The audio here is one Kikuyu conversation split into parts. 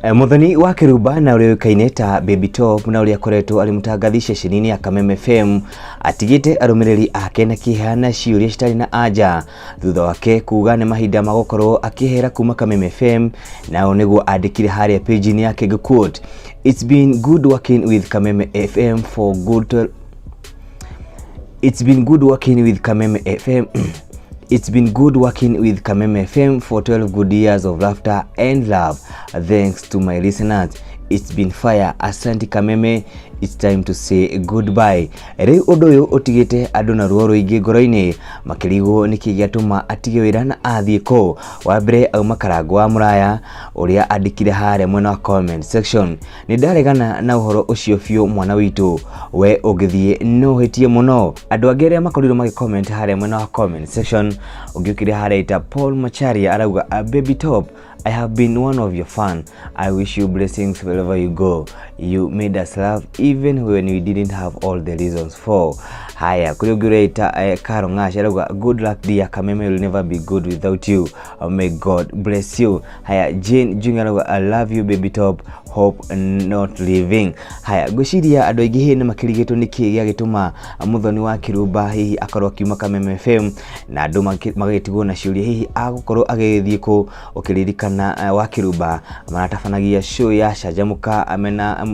Eh, Mũthoni wa Kĩrumba na ũrĩa ũĩkaine ta Baby Top na ũrĩa akoretwo arĩ mũtangathi ceceni-inĩ ya Kameme FM atigĩte arũmĩrĩri ake na kĩeha na ciũria citarĩ na anja thutha wake kuga nĩ mahinda ma gũkorwo akĩehera kuma Kameme FM nao nĩguo andĩkire harĩa page-inĩ yake ngĩquote It's been good working with Kameme FM for good 12 It's been good working with Kameme FM. It's been good working with Kameme FM for 12 good years of laughter and love. Thanks to my listeners. It's been fire. Asante Kameme. It's time to say goodbye. Rĩu ũndũ ũyũ ũtigĩte andũ na ruo rũingĩ ngoro-inĩ makĩrigwo nĩkĩ gĩatũma atige wĩra na athiĩ kũ. Wa mbere auma karango wa mũraya ũrĩa andĩkire harĩa mwena wa comment section nĩ ndaregana na ũhoro ũcio biũ mwana witũ we ũngĩthiĩ no ũhĩtie mũno andũ angĩ arĩa makorirwo magĩ comment harĩa mwena wa comment section ũngĩũkire harĩa ita Paul Macharia arauga "Ah, baby top I have been one of your fan I wish you blessings wherever you go you made us laugh even when we didn't have all the reasons for haya kuri ũngĩ ũreita eh, Karo Ng'ash arauga good luck dear Kameme will never be good without you may God bless you haya Jane Junior arauga I love you baby top hope not leaving haya ngwĩciria andũ aingĩ hihi nĩ makĩrigĩtwo nĩ kĩĩ gĩagĩtũma mũthoni wa kĩrumba hihi akorwo akiuma kameme fm na andũ magĩ- magagĩtigwo na ciũria hihi agũkorwo agĩthiĩ kũ ũkĩririkana eh, wa kĩrumba maratabanagia show ya canjamũka amena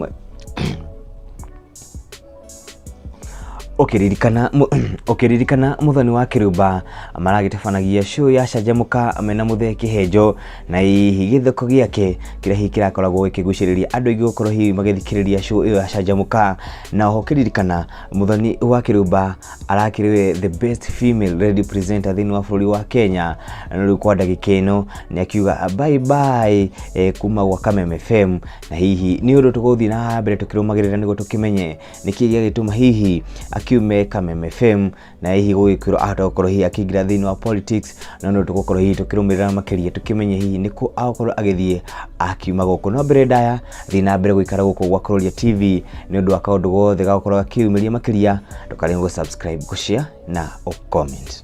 ũkĩririkana mũ- ũkĩririkana mũthoni wa kĩrumba maragĩtabanagia show ya canjamũka mena mũthee kĩhenjo na hihi gĩthoko gĩake kĩrĩa hihi kĩrakoragwo gĩkĩgucĩrĩria andũ aingĩ gũkorwo hihi magĩthikĩrĩria show ĩyo ya canjamũka na oho ũkĩririkana mũthoni wa kĩrumba arakĩrĩ we the best female radio presenter thĩinĩ wa bũrũri wa kenya na rĩu kwa ndagĩka ĩno nĩ akiuga bye bye eh, kuma gwa kameme fm na hihi nĩ ũndũ tũgũthiĩ na mbere tũkĩrũmagĩrĩra nĩguo tũkĩmenye nĩkĩ gĩagĩtũma hihi akiume Kameme FM na hihi gũgĩkwĩrwo ahota gũkorwo hihi akĩingĩra thĩinĩ wa politics na nĩ ũndũ tũgũkorwo hihi tũkĩrũmĩrĩra makĩria tũkĩmenye hihi nĩkũ agũkorwo agĩthiĩ akiuma gũkũ no mbere ndaya thiĩ na mbere gũikara gũkũ gwa Kũroria TV nĩ ũndũ wa kaũndũ gothe gagũkorwo gakiumĩria makĩria ndũkarege gũ subscribe gũ share na ũ comment